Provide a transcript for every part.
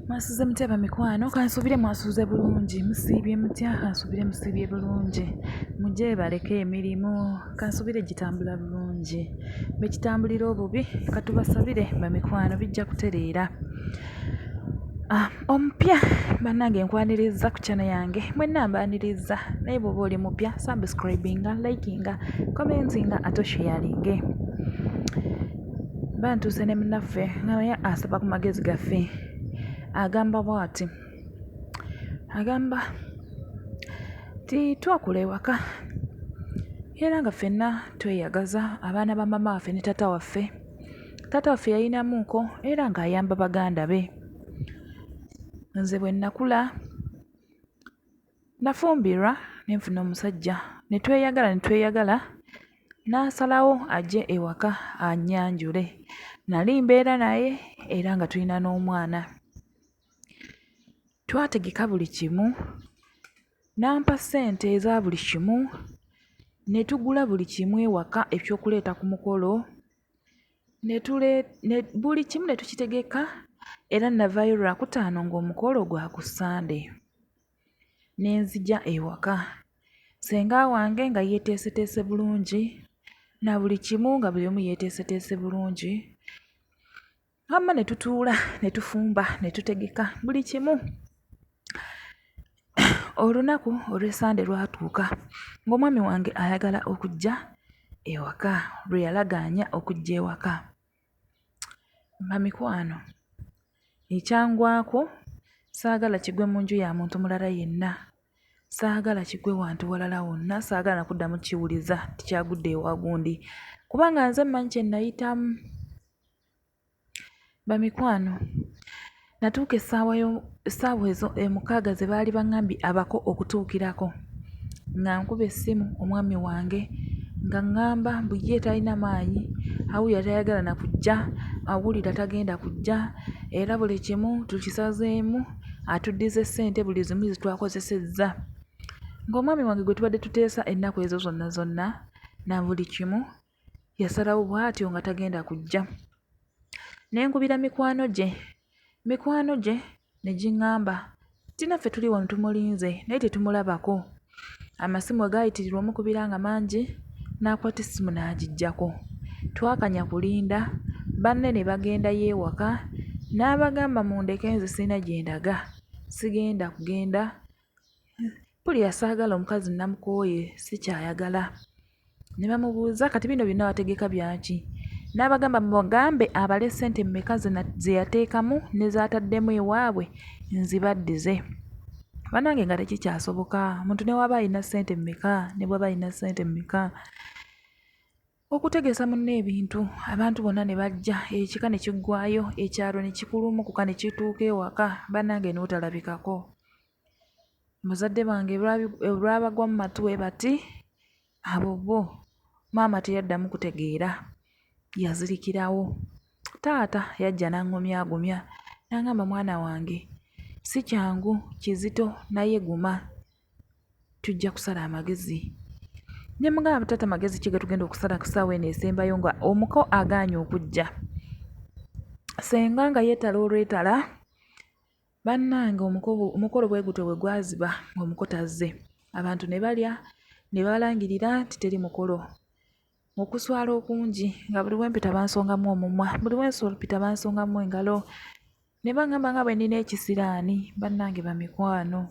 mwasuze mutya bamikwano kansuubire mwasuze bulungi musiibye mutya kansuubire musiibye bulungi mujebaleko emirimu kansuubire gitambula bulungi bekitambulira obubi katubasabire bamikwano bijja kutereera ah, omupya bannange nkwaniriza ku kyana yange mwenna mbaniriza naye bwoba oli mupya subscribinga likinga commentinga ate osheyalinge Bantuuse ne munaffe nga naye asaba ku magezi gaffe agamba bwati, agamba nti twakula ewaka era nga ffenna tweyagaza abaana ba maama waffe ne taata waffe, taata waffe yalinamu nku era nga ayamba baganda be, nze bwe nakula. Nafumbirwa ne nfuna omusajja ne tweyagala ne tweyagala n'asalawo ajje ewaka annyanjule. Nnali mbeera naye era nga tulina n'omwana. Twategeka buli kimu, n'ampa ssente eza buli kimu ne tugula buli kimu ewaka eky'okuleeta ku mukolo ne ne buli kimu ne tukitegeka era nnavaayo Lwakutaano ng'omukolo gwa ku Ssande. ne nzija ewaka. Ssenga wange nga yeeteeseteese bulungi na buli kimu nga buli omu yeeteeseteese bulungi. Wamma ne tutuula ne tufumba ne tutegeka buli kimu. Olunaku olw'Essande lwatuuka ng'omwami wange ayagala okujja ewaka, lwe yalagaanya okujja ewaka. Bamikwano, ekyangwako saagala kigwe mu nju ya muntu mulala yenna, saagala kigwe wantu walala wonna, saagala na kuddamu kukiwuliza nti kyagudde ewa gundi kubanga nze mmanyi kye nnayitamu. Bamikwano. Natuuka essaawa essaawa ezo mukaaga ze baali baŋŋambye abako okutuukirako nga nkuba essimu omwami wange nga ŋŋamba mbu ye talina maanyi awulira tayagala na kujja awulira tagenda kujja era buli kimu tukisazeemu atuddize ssente buli zimu ze twakozesezza ng'omwami wange gwe tubadde tuteesa ennaku ezo zonna zonna na buli kimu yasalawo bwatyo nga tagenda kujja ne nkubira mikwano gye mikwano gye ne ging'amba nti naffe tuli wano tumulinze naye tetumulabako amasimu we gaayitirirwa omukubira nga mangi n'akwata essimu n'agiggyako twakanya kulinda banne ne bagendayo ewaka n'abagamba mundeke nze sirina gye ndaga sigenda kugenda mpulira saagala omukazi namukooye sikyayagala ne bamubuuza kati bino byonna wategeka byaki n'abagamba mubagambe abale ssente mmeka ze yateekamu ne zaataddemu ewaabwe nzibaddize banange nga tekikyasoboka omuntu ne waba alina ssente mmeka ne bwaba alina ssente mmeka Okutegeesa munne ebintu, abantu bonna ne bajja, ekika ne kiggwaayo, ekyalo ne kikulumukuka ne kituuka ewaka, bannange n'otalabikako. Bazadde bange olwabagwa mu matu bwe bati, abo bo, maama teyaddamu kutegeera, yazirikirawo. Taata yajja n'aŋŋumyaagumya n'aŋŋamba, mwana wange si kyangu, kizito naye guma. tujja kusala amagezi ne mugamba taata magezi ki getugenda okusala ku saawa eno esembayo nga omuko agaanye okujja senga nga yeetala olwetala bannange omukolo bwe gutyo bwe gwaziba ng'omuko tazze abantu ne balya ne balangirira nti teri mukolo okuswala okungi nga buli wempita bansongamu omumwa buli wensolpita bansongamu engalo ne baŋŋamba nga bwe nnina ekisiraani bannange bamikwano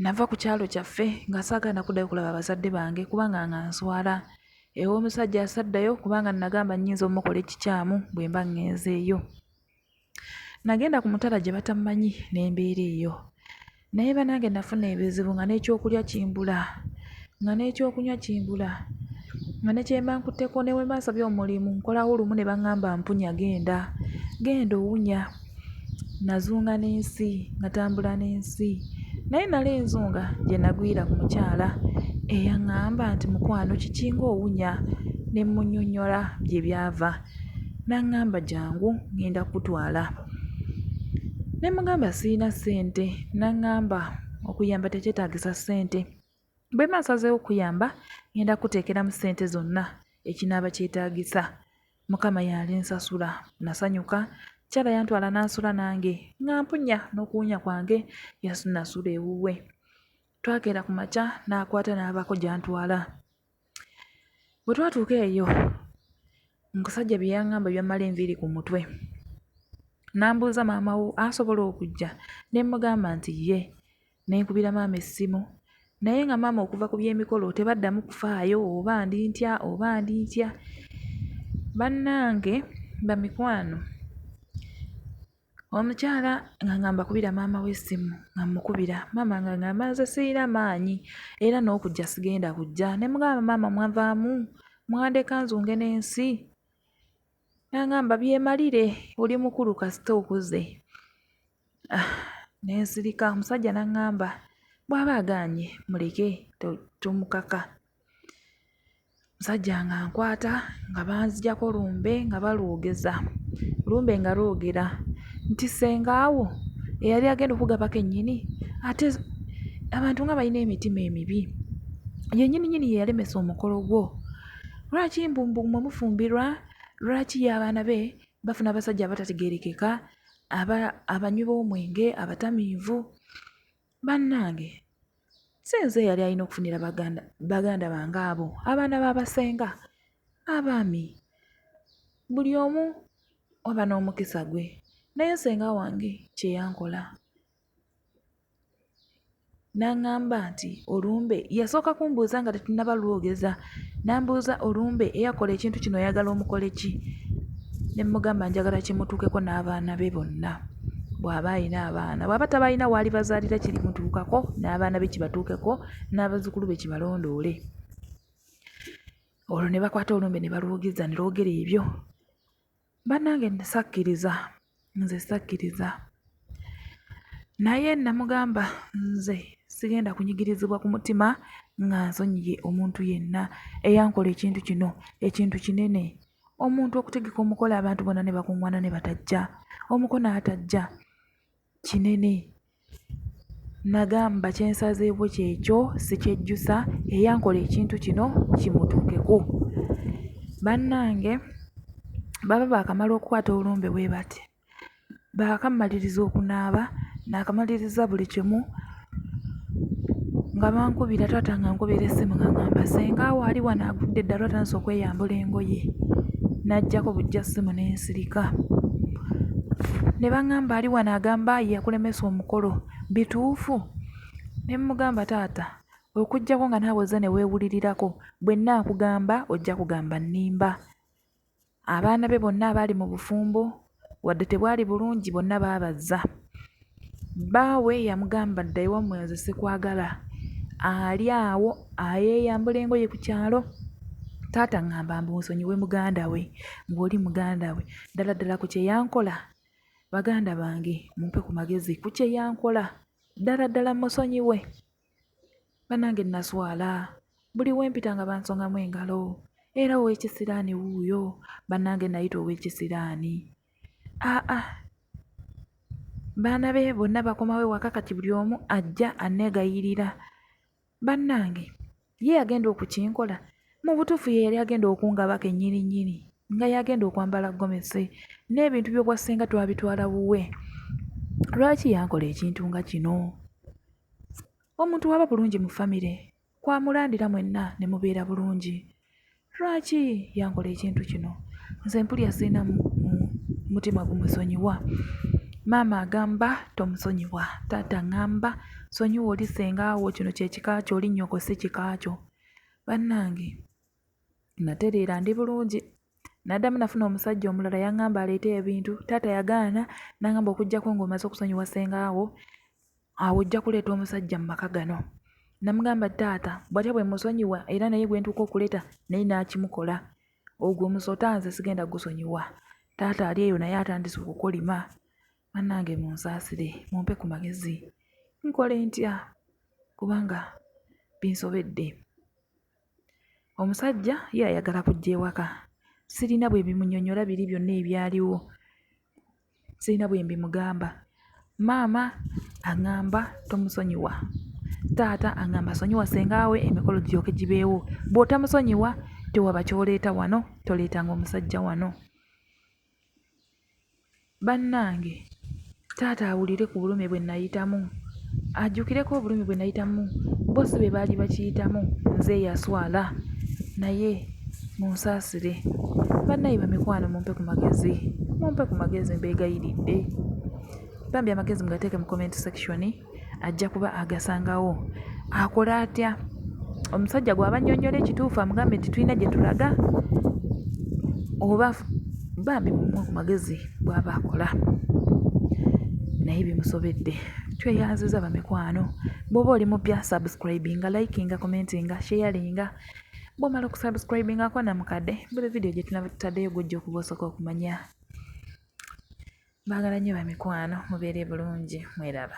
nava ku kyalo kyaffe nga saagala nakuddayo okulaba abazadde bange kubanga nga nswala ew'omusajja asaddayo kubanga nagamba nnyinza omukola ekikyamu bwe mba ŋŋenzeeyo nagenda ku mutala gye batammanyi n'embeera eyo Naye banange nafuna ebizibu nga n'ekyokulya kimbula nga n'ekyokunywa kimbula nga ne kye mba nkutteko ne bwe mba nsabye omulimu nkolawo lumu ne bangamba mpunya genda genda owunya nazunga n'ensi natambula n'ensi naye nali nzunga gye nagwira ku mukyala eyang'amba nti mukwano kiki ng'owunya ne mmunyonnyola gye byava. N'aŋŋamba, Jjangu, ŋŋenda kukutwala. Ne mmugamba, Sirina ssente. N'aŋŋamba, Okuyamba tekyetaagisa ssente. Bwe mba nsazeewo okukuyamba, ŋŋenda kukuteekeramu ssente zonna ekinaaba kyetaagisa. Mukama y'alinsasula. Nnasanyuka. Omukyala yantwala n'asula nange, ng'ampunya n'okuwunya kwange yasula ewuwe. Twakeera ku makya n'akwata n'abaako gy'antwala. Bwe twatuuka eyo omusajja bye yaŋŋamba byammala enviiri ku mutwe. N'ambuuza maama wo asobola okujja? Ne mmugamba nti ye. Ne nkubira maama essimu naye nga maama okuva ku by'emikolo tebaddamu kufaayo oba ndi ntya oba ndi ntya. Bannange bamikwano Omukyala ng'angamba kubira maama we essimu nga mmukubira, maama ng'angamba nze sirina maanyi era n'okujja sigenda kujja. Ne mugamba maama mwavaamu mwandeka nzunge n'ensi? N'angamba byemalire oli mukulu kasita okuze. Ah, ne nsirika omusajja n'angamba bw'aba agaanye muleke tomukaka. Omusajja ng'ankwata nga banziggyako lumbe nga balwogeza. Lumbe nga lwogera nti ssenga wo eyali agenda okukugaba kennyini ate abantu nga balina emitima emibi, ye nnyininyini ye yalemesa omukolo gwo. Lwaki mbu mmwe mufumbirwa, lwaki ye abaana be bafuna abasajja abatategeerekeka, abanywi b'omwenge, abatamiivu? Bannange si nze eyali alina okufunira baganda baganda bange abo abaana ba basenga abaami buli omu aba n'omukisa gwe naye senga wange kye yankola n'aŋŋamba nti olumbe yasooka kumbuuza nga tetunnaba lwogeza Nambuuza olumbe eyakola ekintu kino oyagala omukole ki ne mmugamba njagala kimutuukeko n'abaana be bonna bw'aba alina abaana bw'aba tabalina waalibazaalira kirimutuukako n'abaana be kibatuukeko n'abazzukulu be kibalondoole olwo ne bakwata olumbe ne balwogeza ne lwogera ebyo Bannange nno sakkiriza, nze sakkiriza. Naye namugamba nze sigenda kunyigirizibwa ku mutima nga nsonyiye omuntu yenna eyankola ekintu kino, ekintu kinene. Omuntu okutegeka omukolo abantu bonna ne bakuŋŋwana ne batajja, omuko n'atajja, kinene. Nagamba kye nsazeewo kyekyo sikyejjusa eyankola ekintu kino kimutuukeko. Bannange baba baakamala okukwata olumbe bwe bati, baakammaliriza okunaaba, naakamaliriza buli kimu nga bankubira taata ng'ankubira essimu ng'angamba ssenga wo ali wano agudde eddalu atandise okweyambula engoye, n'aggyako buggya ssimu ne nsirika. ne baŋŋamba ali wano agamba yakulemesa omukolo bituufu? Ne mmugamba taata okuggyako nga naawe ozze ne weewulirirako bwe nnaakugamba ojja kugamba nnimba. Abaana be bonna abaali mu bufumbo wadde tebwali bulungi bonna baabazza. Bbaawe yamugamba dda ewammwe nze sikwagala. Ali awo ayeeyambula engoye ku kyalo. Taata ŋŋamba mbu nsonyiwe muganda we, ng'oli muganda we. Ddala ddala ku kye yankola, baganda bange mumpe ku magezi ku kye yankola. Ddala ddala mmusonyiwe? banange naswala buli wempita nga bansongamu engalo era owekisiraani wuuyo banange nayita owekisiraani aa baana be bonna bakomawo ewaka kati buli omu ajja anegayirira bannange ye yagenda okukinkola mu butuufu ye yali agenda okungaba kennyini nnyini nga yagenda okwambala gomesi n'ebintu by'obwassenga twabitwala wuwe lwaki yankola ekintu nga kino Omuntu waba bulungi mu famire kwamulandira mwenna ne mubeera bulungi. Lwaki yankola ekintu kino? Nze mpulira sirina mutima gumusonyiwa. Maama agamba tomusonyiwa, taata ngamba sonyiwa oli ssenga wo, kino kye kika kyo, oli nnyoko si kika kyo. Bannange! Natereera ndi bulungi. Naddamu nafuna omusajja omulala yaŋŋamba aleete ebintu. Taata yagaana n'aŋŋamba okuggyako ng'omaze okusonyiwa ssengaawo, awo ojja kuleeta omusajja mu maka gano. Namugamba taata bw'atya bwe musonyiwa era naye gwe ntuuka okuleeta naye n'akimukola. Ogwo omusota nze sigenda gusonyiwa. Taata ali eyo naye atandise okukolima. Bannange munsaasire mumpe ku magezi nkole ntya kubanga binsobedde. Omusajja ye ayagala kujja ewaka. Sirina bwe mbimunyonnyola biri byonna ebyaliwo, sirina bwe mbimugamba. Maama aŋŋamba tomusonyiwa, taata aŋŋamba sonyiwa ssenga wo emikolo giryoke gibeewo. Bw'otomusonyiwa tewaba ky'oleeta wano, toleetanga omusajja wano. Bannange taata awulire ku bulumi bwe nayitamu, ajjukireko obulumi bwe nayitamu bo si be baali bakiyitamu nze eyaswala naye munsaasire. Bannaaye bamikwano mumpe ku magezi, mumpe ku magezi mbeegayiridde. Bambi amagezi mugateeke mu comment section. ajja kuba agasangawo akole atya omusajja gwaba nyonyola ekituufu amugambe nti tulina gye tulaga oba bambi mumwe ku magezi bwaba akola naye bimusobedde tweyanziza bamikwano bwoba oli mupya subscribinga likinga commentinga sharinga bwomala okusubscribinga kona mukadde buli vidiyo gyetunaba tutaddeyo gwojja okuba osooka okumanya Mbagala nnyo bamikwano mubeere bulungi mweraba.